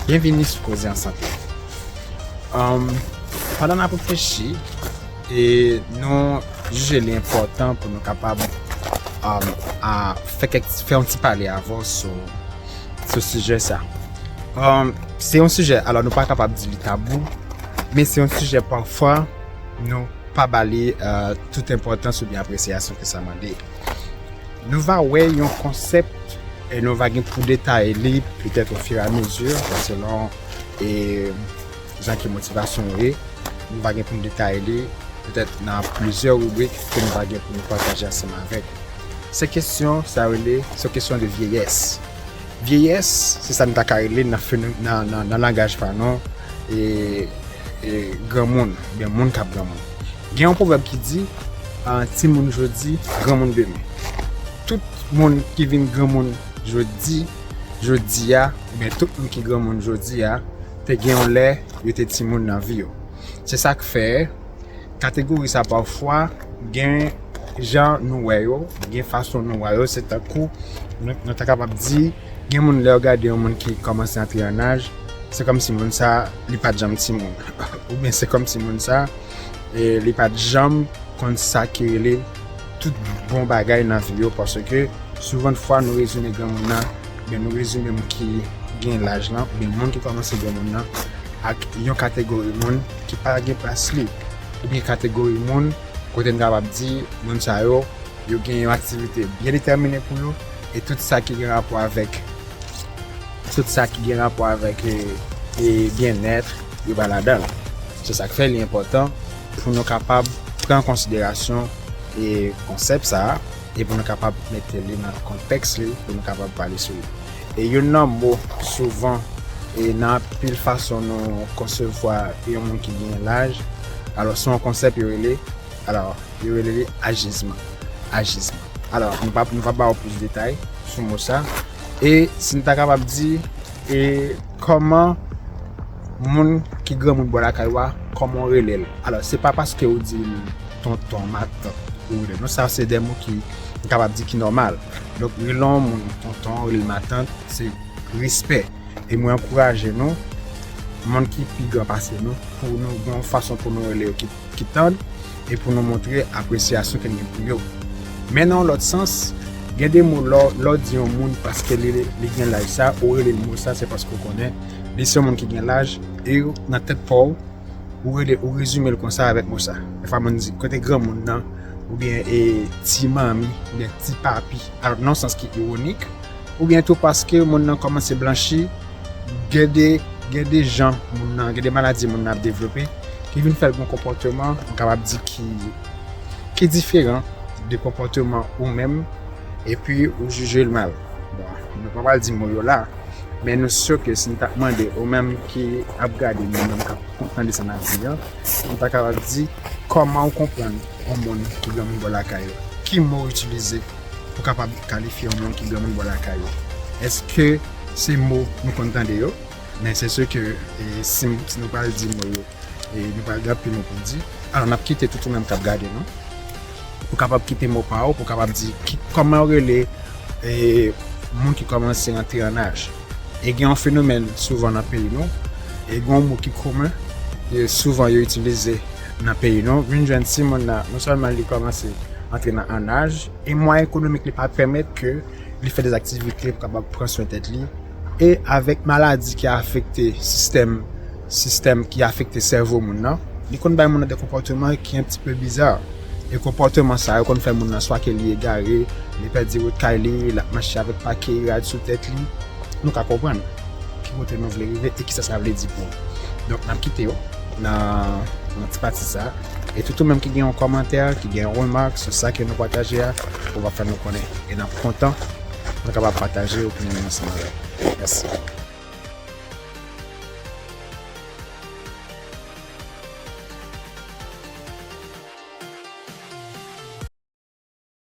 Byenvini sou Koze an Sante! Pandan n ap reflechi e nou jije li enpòtan pou nou kapab fè yon ti pale avè w sou sijè sa a. Se yon sijè, alò nou pa kapab di li tabou, men se yon sijè pafwa nou pa ba li tout enpòtans oubyen apresyasyon ke sa mande. Nou va wè yon konsèp e nou va gen pou detaye li petèt o fur et a mesure selon e jan ke motivasyon nou ye. Nou va gen pou nou detaye li petèt nan plizyè ribrik ke nou va gen pou nou pataje ansanm avèk ou. Se kesyon sa rele, se kesyon de vyeyès. Vyeyès se sa nou ta ka rele nan feno, nan, nan langaj pa nou e, e granmoun, oubyen moun kap granmoun. Gen yon pwovèb ki di, timoun jodi, granmoun demen. Tout moun ki vin granmoun jodi, jodi a, oubyen tout moun ki granmoun jodi a, te gen yon lè yo te timoun nan vi yo. Se sa k fè, kategori sa pafwa gen jan nou wè yo, gen fason nou wè yo. Se tankou nou ta kapab di, gen moun lè yo gade yon moun ki kòmanse antre an aj, se kòmsi moun sa a li pa t janm timoun. Oubyen se kòmsi moun sa a. e li pat janm konn sa ki rele tout bon bagay nan vi yo paske souvan de fwa nou rezime granmoun nan oubyen nou rezime moun ki gen laj lan oubyen moun ki kòmanse gen moun nan ak yon kategori moun ki pa gen plas li oubyen kategori moun kote nou kapab di moun sa yo yo gen yon aktivite byen detèmine pou yo e tout sa ki gen rapò avèk tout sa ki gen rapò avèk e byenèt yo pa ladan. Se sa k fè li enpòtan pou nou kapab pran an konsiderasyon konsèp sa a e pou nou kapab mete li nan kontèks li pou nou kapab pale sou li. E youn nan mo souvan e nan anpil fason nou konsevwa yon moun ki genyen laj, alò se yon konsèp yo rele, alò yo rele li ajizman, ajizman. Alò nou pa ba ou plis detay sou mo sa e si nou ta kapab di E kòman moun ki granmoun bò lakay ou a, kòman ou rele l? Alò, se pa paske ou di l tonton, matant ou rele l non. Sa se de mo ki m kapab di ki nòmal. Donk, rele yon moun tonton, rele l matant, se respè. E mwen ankouraje nou, moun ki pi gran pase nou, pou nou gen yon fason pou nou rele yo ki. ki tand e pou nou montre apresyasyon ke n gen pou yo. Men nan yon lòt sans, gen de mo lè w di yon moun paske li gen laj sa, ou rele l mo sa, se paske ou konnen li se yon moun ki gen laj e nan tèt pa w, ou rele, ou rezime l konsa avèk mo sa. Dèfwa moun di, kote granmoun nan? Oubyen e ti manmi, oubyen ti papi, nan yon sans ki iwonik. Oubyen tou paske moun nan kòmanse blanchi, gen de gen de jan moun nan, gen de maladi moun nan ap devlope ki vin fè l gen konpòteman m kapab di ki ki diferan de konpòteman ou menm epi ou jije l mal. Bon, nou pa pral di mo yo la, men nou si ke si n ta mande ou menm ki ap gade m, ou menm k ap tande sa n ap di an, ou ta kapab di kòman ou konprann yon moun ki gen yon mo lakay ou? Ki mo ou itilize? pou kapab kalifye yon moun ki granmoun bò lakay ou. Eske se mo nou konn tande yo? Men se se ke si nou pral di mo yo, nou pral gen anpil mo pou di. Alò n ap kite tout ou menm k ap gade nou pou kapab kite mo pa ou pou kapab di kòman yo rele moun ki kòmanse antre an aj. E gen yon fenomèn souvan nan peyi nou, gen yon mo ki komen, souvan yo itilize. nan peyi nou vin jwenn timoun nan non sèlman li kòmanse antre nan an aj e mwayen ekonomik li pa pèmèt ke li fè de aktivite pou kapab pran swen tèt li e avèk maladi ki afekte sistèm sistèm ki afekte sèvo moun nan li konn bay moun nan de konpòteman ki an ti pe biza e konpòteman sa yo konn fè moun nan swa ke li egare li pèdi wout kay li l ap mache avèk pake rad sou tèt li nou ka konprann ki kote nou vle rive e kisa sa vle di pou nou donk n ap kite yo. nan ti pati sa e tout ou menm ki gen yon kòmantè ki gen yon remak sou sa ke nou pataje a ou ka fè nou konnen e nap kontan nou kapab pataje opinyon nou ansanm avèw mèsi.